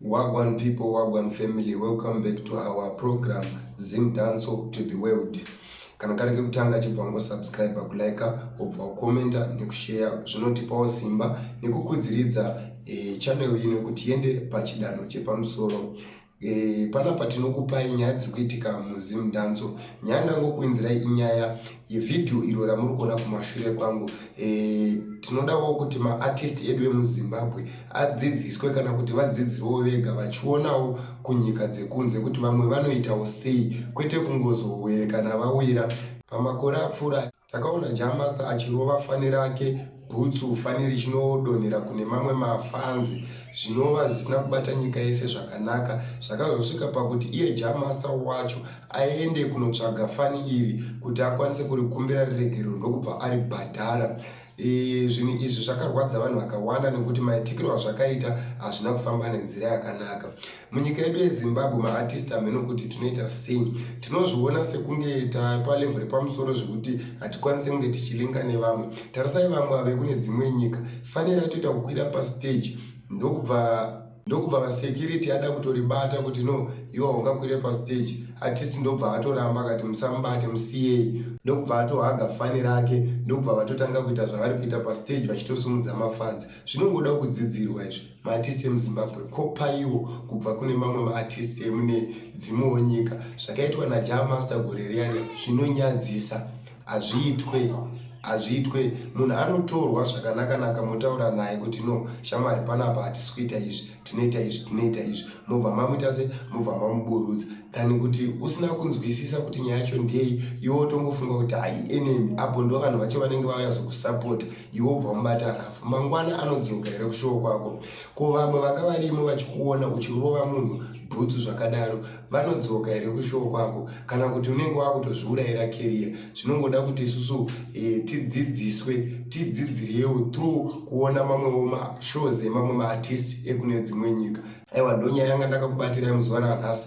Wagwan people, wagwan family, welcome back to our program Zim Danso to the World. Kana kari kekutanga chibva wango subscribe kulike wobva wakomenta nekushare zvinotipawo simba nekukudziridza e, channel ino kuti iende pachidanho chepamusoro. E, panapa tinokupai nyaya dziri kuitika muZim Danso. Nyaya ndangokuinzirai inyaya yevhidhiyo iro ramuri kuona kumashure kwangu e, tinodawo kuti maartist edu emuzimbabwe adzidziswe kana kuti vadzidzirewo vega vachionawo kunyika dzekunze kuti vamwe vanoitawo sei kwete kungozowerekana vawira pamakore apfuura takaona jamaster achirova fani rake bhutsu fani richinodonhera kune mamwe mafanzi zvinova zvisina kubata nyika yese zvakanaka zvakazosvika pakuti iye jamaster wacho aende kunotsvaga fani iri kuti akwanise kurikumbira riregerero ndokubva aribhadhara e, zvinhu izvi zvakarwadza vanhu vakawanda nekuti maitikiro azvakaita hazvina kufamba nenzira yakanaka munyika yedu yezimbabwe maartist hameno kuti tinoita sei tinozviona sekunge tapalevel repamusoro zvekuti hatikwanise kunge tichilinga nevamwe tarisai vamwe ave kune dzimwe nyika fanira atoita kukwira pastage ndokubva ndokubva vasecurity ada kutoribata kuti no iwa ungakwire pastage artist ndobva atoramba akati musamubate musiyei ndokubva atohaga fani rake ndokubva vatotanga kuita zvavari kuita pastage vachitosumudza mafans zvinongoda kudzidzirwa izvi maartist emuzimbabwe ko paiwo kubva kune mamwe maartist emune dzimwewo nyika zvakaitwa najaa master gore riyariya zvinonyadzisa hazviitwe hazviitwe munhu anotorwa zvakanakanaka motaura naye kuti no shamwari panapa hatisi kuita izvi tinoita izvi tinoita izvi mobva mamuita se mobva mamuburudza than kuti usina kunzwisisa kuti nyaya yacho ndei iwe wotongofunga kuti haienemi apo ndo vanhu vacho vanenge vauya zokusapota iwe ubva mubata rafu mangwana anodzoka here kushowo kwako ko vamwe vanga varimo vachikuona uchirova munhu bhutsu zvakadaro vanodzoka here kushowo kwako kana kuti unenge wakutozviurayira keriya zvinongoda kuti isusu eh, tidzidziswe tidzidziriyewo through kuona mamwewo mashows emamwe maartist ekune dzimwe nyika aiwa ndonyaya yanga ndakakubatirai muzuva ranhasi